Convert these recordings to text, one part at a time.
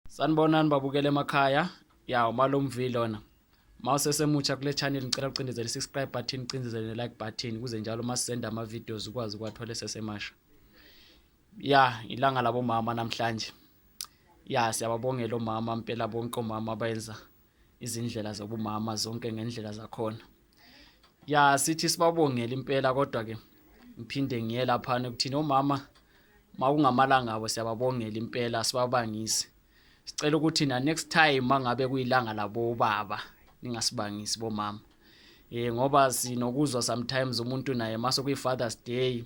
sanibonani babukela emakhaya ya umalomvi lona ma usesemutsha kule channel ngicela ucindezele i-subscribe button ucindezele ne-like button kuze njalo uma sisenda ama-videos ukwazi ukuwathole sesemasha ya ilanga labomama namhlanje ya siyababongela omama mpela bonke omama abenza izindlela zobumama zonke ngendlela zakhona ya sithi sibabongela impela kodwa ke ngiphinde ngiye laphana ukuthini omama makungamalanga abo siyababongela impela sibabangise sicela ukuthi na next time mangabe kuyilanga labo baba ningasibangisi bomama eh ngoba sinokuzwa sometimes umuntu naye mase kuyi Father's Day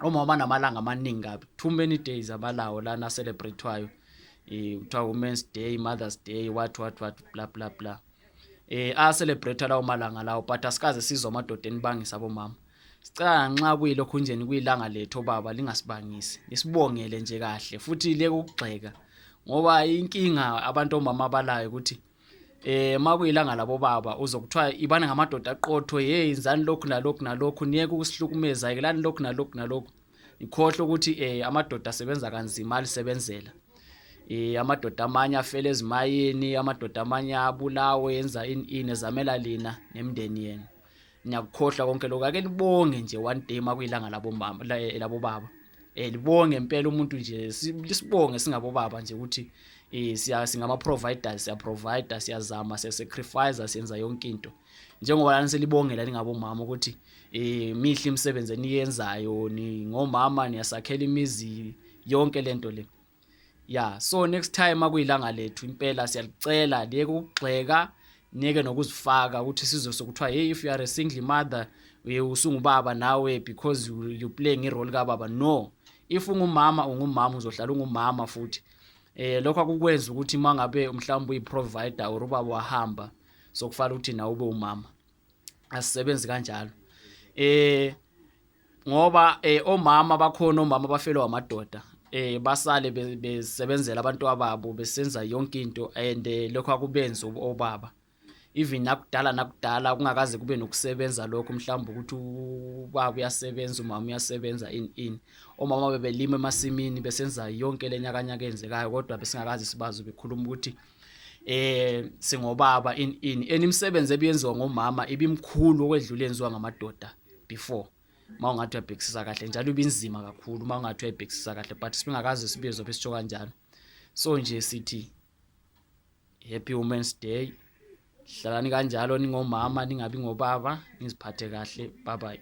omama banamalanga amaningi kabi too many days abalawo lana celebrate-wayo um kuthiwa women's day mother's day what what what bla bla bla eh acelebrate lawo malanga lawo but asikaze sizwa amadoda enibangisa bomama sicela nxa kuyilokho njeni kuyilanga lethu obaba lingasibangisi lisibongele nje kahle futhi leke ukugxeka ngoba inkinga abantu omama abalayo ukuthi eh makuyilanga labo baba uzokuthiwa ibani ngamadoda aqotho hey izani lokhu nalokhu nalokhu niyeke ukusihlukumeza yikelani lokhu nalokhu nalokhu ikhohle ukuthi eh amadoda asebenza kanzima alisebenzela eh amadoda amanye afele ezimayini amadoda amanye abulawe yenza ini ini ezamela lina nemndeni yenu niyakukhohlwa konke lokho ake libonge nje one day makuyilanga labo mama labo baba eh libonge impela umuntu nje lisibonge singabo baba nje ukuthi eh siya singama providers siya provider siyazama siya sacrifice siyenza yonke into njengoba lana selibongela ningabo mama ukuthi eh mihle imisebenzi eniyenzayo ni ngomama niyasakhela imizi yonke lento le ya so next time akuyilanga lethu impela siyalicela liyeke ukugxeka niyeke nokuzifaka ukuthi sizose kuthiwa hey if you are a single mother uye usungubaba nawe because you, you play ngerole kababa no if ungumama ungumama uzohlala ungumama futhi eh lokho akukwenza ukuthi mangabe mhlawumbe uyiprovider or ubaba wahamba sokufanele ukuthi nawe ube umama asisebenzi kanjalo eh ngoba eh omama bakhona omama bafelwa amadoda eh basale besebenzela abantu ababo besenza yonke into and eh, lokho akubenzi obaba even nakudala nakudala kungakaze kube nokusebenza lokho mhlawumbe ukuthi ubaba uyasebenza umama uyasebenza in in omama bebelima emasimini besenza yonke lenyakanyaka enzekayo kodwa besingakazi sibazi bekhuluma ukuthi eh singobaba in in enimsebenze ebiyenziwa ngomama ibimkhulu okwedlula enziwa ngamadoda before uma ungathi uyabhekisisa kahle njalo ibinzima kakhulu uma ungathi uyayibhekisisa kahle but sibingakaze sibizo besitsho kanjalo so nje sithi happy women's day hlalani kanjalo ningomama ningabi ngobaba niziphathe kahle bye bye